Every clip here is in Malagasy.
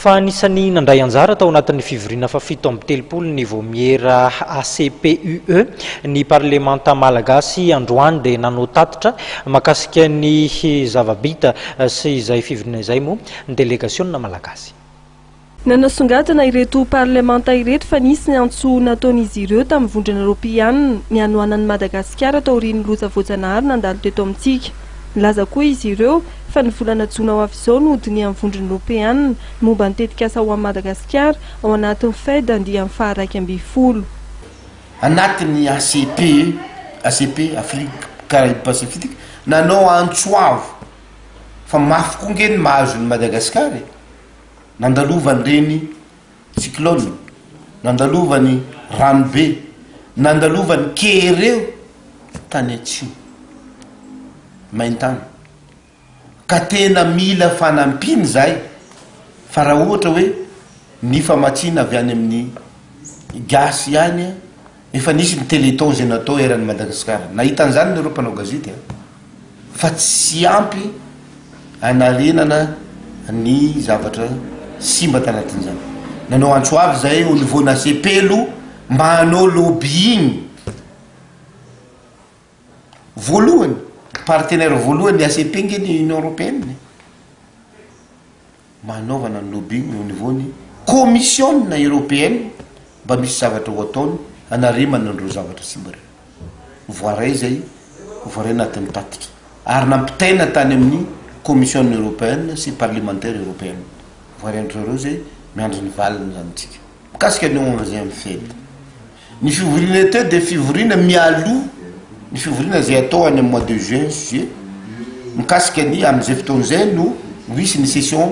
Fa anisan'ny nandray anjara tao anatin'ny fivoriana fahafito amby telopolo ny Vaomiera ACPUE. Ny Parlemanta Malagasy androany dia nanao tatitra mahakasika ny zava-bita sy izay fivoriana izay moa ny delegasiona Malagasy. Nanasongadina ireto Parlemanta ireto fa nisy ny antso nataon'izy ireo tamin'ny vondrona Eoropeana ny hanohanan'i Madagasikara taorian'ny loza voajanahary nandalo teto amintsika. Nilaza koa izy ireo. fa ny volana jona ho avy izao no hodinihan'ny Vondrona Eoropeana ny momba ny tetikasa ho an'i Madagasikara ao anatin'ny Fed andiany faha-iraika ambin'ny folo. Anatin'ny ACP, ACP, Afrique Caraïbes Pacifique, nanao antso avo fa mafy koa ange ny mahazo an'i Madagasikara e! Nandalovan'ireny. Cyclone, nandalovan'ny ranobe, nandalovan'ny keireo tany atsimo, maintany, ka tena mila fanampiana izahay, fa raha ohatra hoe ny famatsiana avy any amin'ny gasy ihany Efa nisy ny téléthon izay natao eran'ny Madagasikara. Nahita an'izany ny ireo mpanao gazety a! Fa tsy ampy hanarenana ny zavatra simba tanatin'izany. Nanao antso avo izahay au niveau nasepelo mba hanao lobbying. Voalohany, partenaire voalohany ny ACP nge ny Union Européenne e! Hanaovana ny lobbying au niveau ny Comisiona Europeana mba misy zavatra ho ataony hanarimana an'ireo zavatra simba ireo. Voaray izay voaray anaty ny tatitra ary nampitaina tany amin'ny Comisiona Europeana sy Parlemantera Europeana. Voaray an-dry zareo izay, miandry ny valiny izany isika. Mikasika ny ONG-ny FED, Ny fivoriana été dia fivoriana mialoha ny fivoriana izay atao any amin'ny mois de juin sy juillet, mikasika ny amin'izay fotoana izay no ho hisy ny session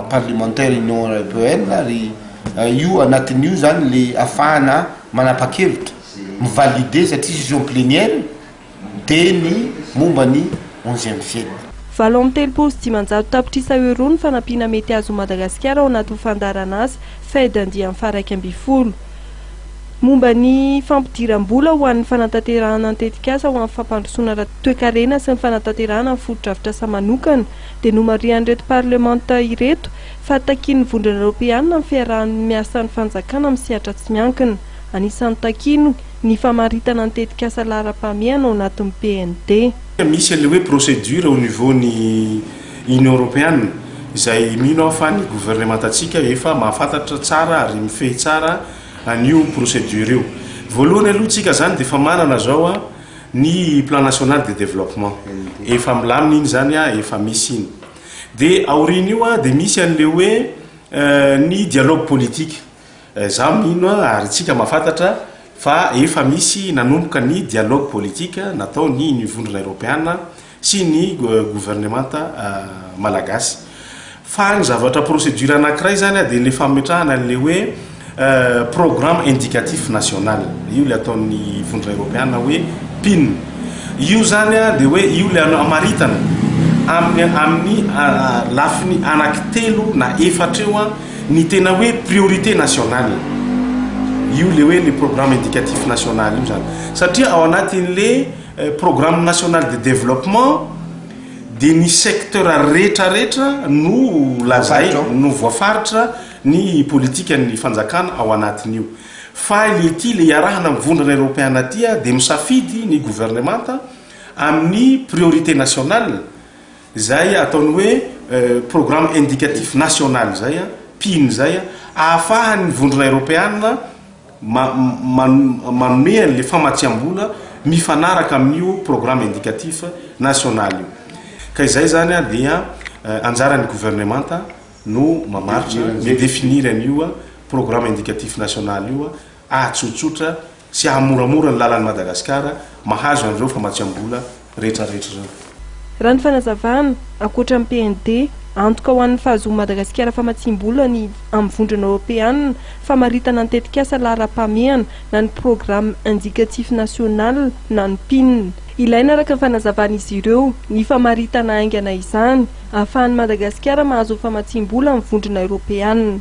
parlementaire Union Européenne ary io anatin'io izany ilay afahana manapa-kevitra, mi-valider satria session plénière. dia ny momba ny onzième fenina. Valo amby telopolo sy dimanjato tapitrisa euros ny fanampiana mety azon'i Madagasikara ao anatin'ny fandaharan'asa Fed andiany faha-iraika ambin'ny folo momba ny fampidiram-bola ho an'ny fanatanterahana ny tetikasa ho an'ny fampandrosoana ara-toekarena sy ny fanatanterahana ny fotodrafitrasa manokana dia nomarihan'ireto parlemanta ireto fa takian'ny Vondrona Eoropeana ny fiaraha-miasan'ny fanjakana amin'ny sehatra tsy miankina. Anisan'ny takiny ny famaritana ny tetikasa laharam-pahamehana ao anatin'ny PND. Misy ilay hoe procédure au niveau ny Union Europeanne izay mino aho fa ny governemantantsika efa mahafantatra tsara ary mifehy tsara an'io procédure io. Voalohany aloha tsika izany dia efa manana izao ny plan national de développement, efa milamina iny izany, efa misy iny. Dia aorian'io dia misy an'ilay hoe ny dialogue politique. Izaho mino ary isika mahafantatra fa efa misy nanomboka ny dialogue politique natao ny ny vondrona eropeana sy ny governemanta malagasy. Fa ny zavatra procédure anankiray izany dia ilay fametrahana ilay hoe programme indicatif national, io ilay ataon'ny vondrona eropeana hoe pin. Io izany dia hoe io ilay hamaritana amin'ny lafiny anaky telo na efatra eo Ny tena hoe priorité nationale, io le hoe le programme indicatif national io zany. Satria ao anatin'le programme national de développement dia ny secteur retraretra no lazaina, no voafaritra ny politikan'ny fanjakana ao anatin'io. Fa le ity le iarahana amin'ny vondrana eropeana ity dia misafidy ny governemanta amin'ny priorité nationale, Izay ataony hoe programme indicatif national izay, pin, izay, ahafahan'ny Vondrona Eropeana ma, ma, manome an'ilay famatsiam-bola mifanaraka amin'io programme indicatif national io. Ka izay izany dia anjaran'ny Governemanta no mamaritra, mi-definir an'io programme indicatif national io, atsotsotra, sy hahamoramora ny lalan'i Madagasikara mahazo an'ireo famatsiam-bola rehetrarehetra ireo. Raha ny fanazavana, ankoatra ny PND, antoka ho an'ny fahazoan'i Madagasikara famatsiam-bola ny amin'ny Vondrona Eoropeanina, famaritana ny tetikasa laharam-pahamehana na ny Programme Indicatif National na ny pin. Ilaina araka ny fanazavan'izy ireo ny famaritana haingana izany, ahafahan'i Madagasikara mahazo famatsiam-bola amin'ny Vondrona Eoropeanina.